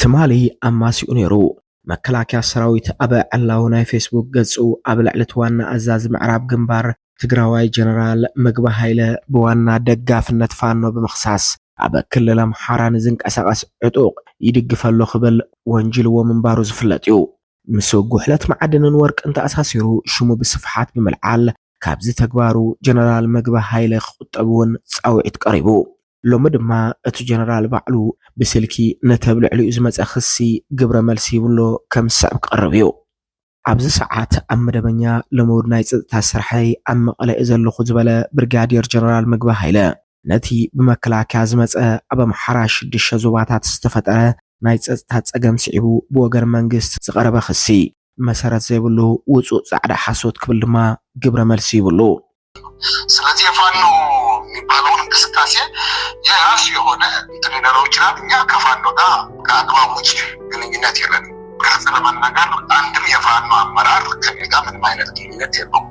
ትማሊ ኣማሲኡ ነይሩ። መከላከያ ሰራዊት ኣብ ዕላዊ ናይ ፌስቡክ ገፁ ኣብ ልዕሊ እቲ ዋና ኣዛዚ ምዕራብ ግንባር ትግራዋይ ጀነራል ምግበ ሃይለ ብዋና ደጋፍነት ፋኖ ብምኽሳስ ኣብ ክልል ኣምሓራ ንዝንቀሳቐስ ዕጡቕ ይድግፍ ኣሎ ክብል ወንጂልዎ ምንባሩ ዝፍለጥ እዩ። ምስ ጉሕለት መዓድንን ወርቅን ተኣሳሲሩ ሽሙ ብስፍሓት ብምልዓል ካብዚ ተግባሩ ጀነራል ምግበ ሃይለ ክቑጠብ እውን ፃውዒት ቀሪቡ። ሎሚ ድማ እቲ ጀነራል ባዕሉ ብስልኪ ነቲ ኣብ ልዕሊኡ ዝመጸ ክሲ ግብረ መልሲ ሂቡ'ሎ፣ ከም ዝስዕብ ክቐርብ እዩ። ኣብዚ ሰዓት ኣብ መደበኛ ልሙድ ናይ ጸጥታ ስርሐይ ኣብ መቐለ እየ ዘለኹ ዝበለ ብርጋዴር ጀነራል ምግበ ሃይለ፣ ነቲ ብመከላከያ ዝመጸ ኣብ ኣምሓራ ሽዱሽተ ዞባታት ዝተፈጠረ ናይ ጸጥታ ጸገም ስዒቡ ብወገን መንግስቲ ዝቐረበ ክሲ መሰረት ዘይብሉ ውጹእ ጻዕዳ ሓሶት ክብል ድማ ግብረ መልሲ ሂቡ'ሉ። ስለዚህ የፋኖ የሚባለውን እንቅስቃሴ የራሱ የሆነ እንትን ሊኖረው ይችላል። እኛ ከፋኖ ጋር ከአግባብ ውጭ ግንኙነት የለን። ግልጽ ለመናገር አንድም የፋኖ አመራር ከኔ ጋር ምንም አይነት ግንኙነት የለውም።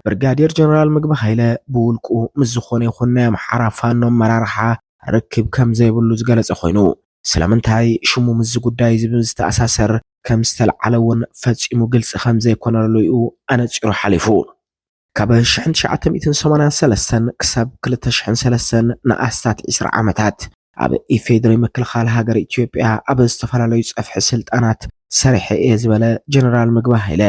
ብርጋዴር ጀነራል ምግቢ ኃይለ ብውልቁ ምስ ዝኾነ ይኹን ናይ ኣምሓራ ፋኖ ኣመራርሓ ርክብ ከም ዘይብሉ ዝገለጸ ኮይኑ ስለምንታይ ሽሙ ምስዚ ጉዳይ እዚ ብዝተኣሳሰር ከም ዝተልዓለ እውን ፈጺሙ ግልጺ ከም ዘይኮነሉ እዩ ኣነጺሩ ሓሊፉ። ካብ ሽሕን ትሽዓተ ሚእትን ሰማንያን ሰለስተን ክሳብ ክልተ ሽሕን ሰለስተን ንኣስታት ዒስራ ዓመታት ኣብ ኢፌዴሪ ምክልኻል ሃገር ኢትዮጵያ ኣብ ዝተፈላለዩ ፀፍሒ ስልጣናት ሰሪሐ እየ ዝበለ ጀነራል ምግበ ሃይለ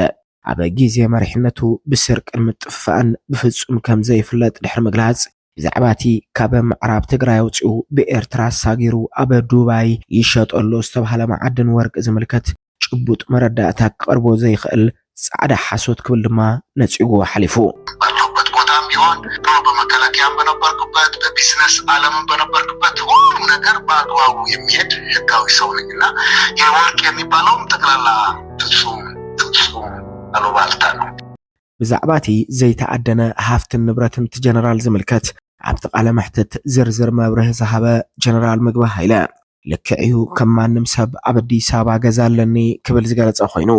ኣብ ግዜ መሪሕነቱ ብስርቅን ምጥፍፋእን ብፍጹም ከም ዘይፍለጥ ድሕሪ ምግላጽ ብዛዕባ እቲ ካብ ምዕራብ ትግራይ ኣውፂኡ ብኤርትራ ኣሳጊሩ ኣብ ዱባይ ይሸጠሉ ዝተባሃለ መዓድን ወርቂ ዝምልከት ጭቡጥ መረዳእታ ክቐርቦ ዘይኽእል ጻዕዳ ሓሶት ክብል ድማ ነጺግዎ ሓሊፉ። በለሁበት ቦታም ቢሆን ድሮ በመከላከያም በነበርኩበት በቢዝነስ ኣለምም በነበርኩበት ሁሉም ነገር በኣግባቡ የሚሄድ ህጋዊ ሰው ነኝ እና ይህ ወርቅ የሚባለውም ጠቅላላ ፍጹም ፍጹም ኣሉባልታ ነው። ብዛዕባ እቲ ዘይተኣደነ ሃፍትን ንብረትን እቲ ጀነራል ዝምልከት ኣብቲ ቃለ መሕትት ዝርዝር መብርሂ ዝሃበ ጀነራል ምግበ ሃይለ፣ ልክዕ እዩ ከም ማንም ሰብ ኣብ ኣዲስ ኣበባ ገዛ ኣለኒ ክብል ዝገለፀ ኮይኑ፣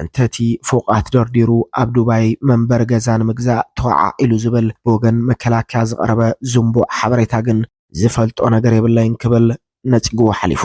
እንተ እቲ ፎቓት ደርዲሩ ኣብ ዱባይ መንበሪ ገዛ ንምግዛእ ተወዓዒሉ ዝብል ብወገን መከላከያ ዝቐረበ ዝንቡዕ ሓበሬታ ግን ዝፈልጦ ነገር የብለይን ክብል ነፂግዎ ሓሊፉ።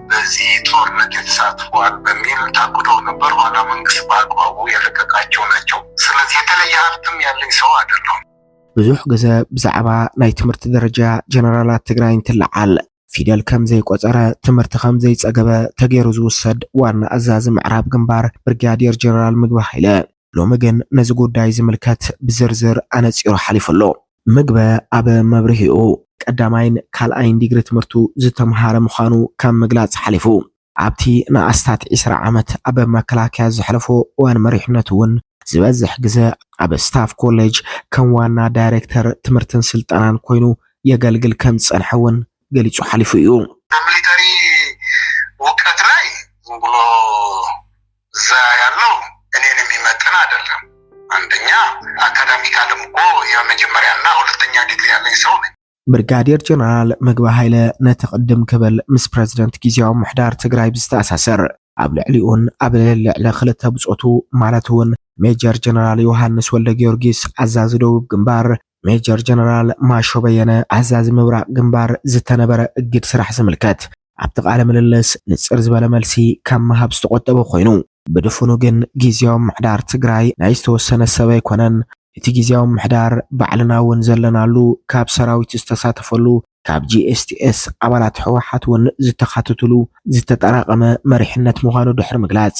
በዚ ጦርነት የተሳተፉ አሉ በሚል ታግደው ነበር ኋላ መንግስት በአግባቡ የለቀቃቸው ናቸው ስለዚህ የተለየ ሀብትም ያለኝ ሰው አይደለሁም። ብዙሕ ግዘ ብዛዕባ ናይ ትምህርቲ ደረጃ ጀነራላት ትግራይ እንትለዓል ፊደል ከም ዘይቆፀረ ትምህርቲ ከም ዘይፀገበ ተገይሩ ዝውሰድ ዋና ኣዛዚ ምዕራብ ግንባር ብርጋዴር ጀነራል ምግቢ ሃይለ ሎሚ ግን ነዚ ጉዳይ ዝምልከት ብዝርዝር ኣነፂሩ ሓሊፉ ኣሎ። ምግበ ኣብ መብርሂኡ፣ ቀዳማይን ካልኣይን ዲግሪ ትምህርቱ ዝተምሃረ ምዃኑ ካብ ምግላጽ ሓሊፉ፣ ኣብቲ ንኣስታት ዕስራ ዓመት ኣብ መከላከያ ዘሕለፎ እዋን መሪሕነቱ'ውን ዝበዝሕ ግዘ ኣብ ስታፍ ኮሌጅ ከም ዋና ዳይሬክተር ትምህርትን ስልጠናን ኮይኑ የገልግል ከምዝጸንሐ'ውን ገሊጹ ሓሊፉ እዩ። እዛ ሚሊተሪ ውቀት ላይ ዝም ብሎ እዛ ያለው እኔን የሚመጥን አይደለም አንደኛ አካዳሚካልም እኮ የመጀመሪያ እና ሁለተኛ ዲግሪ ያለኝ ሰው ነኝ። ብርጋዴር ጀነራል ምግበ ሃይለ ነቲ ቅድም ክብል ምስ ፕረዚደንት ግዜያዊ ምሕዳር ትግራይ ብዝተኣሳሰር ኣብ ልዕሊኡን ኣብ ልዕሊ ክልተ ብጾቱ ማለት እውን ሜጀር ጀነራል ዮሃንስ ወልደ ጊዮርጊስ ኣዛዚ ደቡብ ግንባር ሜጀር ጀነራል ማሾ በየነ ኣዛዚ ምብራቕ ግንባር ዝተነበረ እግድ ስራሕ ዝምልከት ኣብቲ ቃለ ምልልስ ንጽር ዝበለ መልሲ ካብ ምሃብ ዝተቖጠበ ኮይኑ ብድፉኑ ግን ግዜያዊ ምሕዳር ትግራይ ናይ ዝተወሰነ ሰብ ኣይኮነን እቲ ግዜያዊ ምሕዳር ባዕልና እውን ዘለናሉ ካብ ሰራዊት ዝተሳተፈሉ ካብ ጂኤስቲኤስ ኣባላት ህወሓት እውን ዝተኻተትሉ ዝተጠራቐመ መሪሕነት ምዃኑ ድሕሪ ምግላጽ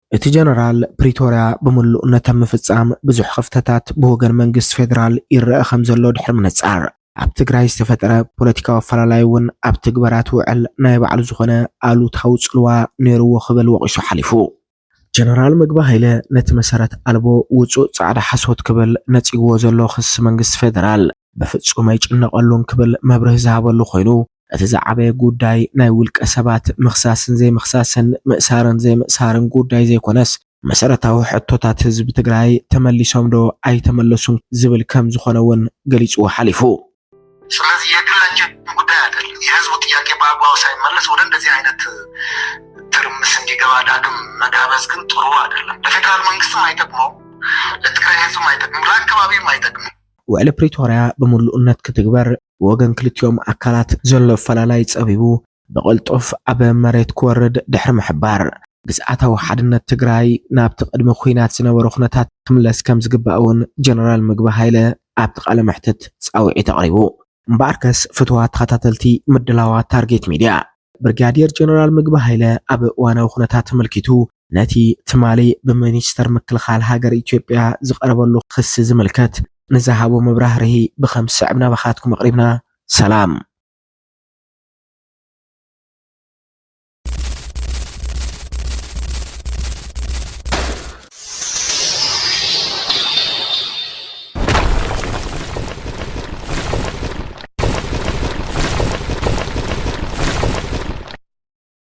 እቲ ጀነራል፣ ፕሪቶርያ ብምሉእ ነተ ምፍጻም ብዙሕ ክፍተታት ብወገን መንግስቲ ፌደራል ይረኣ ከምዘሎ ድሕሪ ምንጻር፣ ኣብ ትግራይ ዝተፈጠረ ፖለቲካዊ ኣፈላላይ እውን ኣብ ትግበራ እቲ ውዕል ናይ ባዕሉ ዝኾነ ኣሉታዊ ጽልዋ ነይሩዎ ክብል ወቒሱ ሓሊፉ። ጀነራል ምግበ ሃይለ ነቲ መሰረት ኣልቦ ውጹእ ጻዕዳ ሓሶት ክብል ነጺጉዎ ዘሎ ክሲ መንግስቲ ፌደራል፣ ብፍጹም ኣይጭነቐሉን ክብል መብርሂ ዝሃበሉ ኮይኑ፣ እቲ ዝዓበየ ጉዳይ ናይ ውልቀ ሰባት ምኽሳስን ዘይምኽሳስን፣ ምእሳርን ዘይምእሳርን ጉዳይ ዘይኮነስ፣ መሰረታዊ ሕቶታት ህዝቢ ትግራይ ተመሊሶምዶ ኣይተመለሱን ዝብል ከምዝኾነ እውን ገሊፅዎ ሓሊፉ። ስለዚ የግላችን ጉዳይ ኣደለም። የህዝቡ ጥያቄ በኣግባቡ ሳይመለስ ወደ እንደዚህ ዓይነት ትርምስ እንዲገባ ዳግም መጋበዝ ግን ጥሩ ኣደለም። ለፌደራል መንግስትም ኣይጠቅሞም፣ ለትግራይ ህዝብም ኣይጠቅምም፣ ለኣከባቢም ኣይጠቅምም። ውዕሊ ፕሪቶርያ ብምሉእነት ክትግበር፣ ብወገን ክልቲኦም ኣካላት ዘሎ ኣፈላላይ ፀቢቡ ብቕልጡፍ ኣብ መሬት ክወርድ ድሕሪ ምሕባር፣ ግዝኣታዊ ሓድነት ትግራይ ናብቲ ቅድሚ ኲናት ዝነበሮ ኩነታት ክምለስ ከምዝግባእ እውን ጀነራል ምግበ ሃይለ ኣብቲ ቃለ መሕትት ፃውዒት ኣቕሪቡ። እምበኣርከስ ፍቱዋት ተኸታተልቲ ምድላዋት ታርጌት ሚድያ፣ ብርጋዴር ጀነራል ምግበ ሃይለ ኣብ እዋናዊ ኩነታት ኣመልኪቱ ነቲ ትማሊ ብሚኒስተር ምክልኻል ሃገር ኢትዮጵያ ዝቐረበሉ ክሲ ዝምልከት ንዝሃቦ መብራህርሂ ብኸም ዝስዕብ ናባኻትኩም ኣቕሪብና። ሰላም።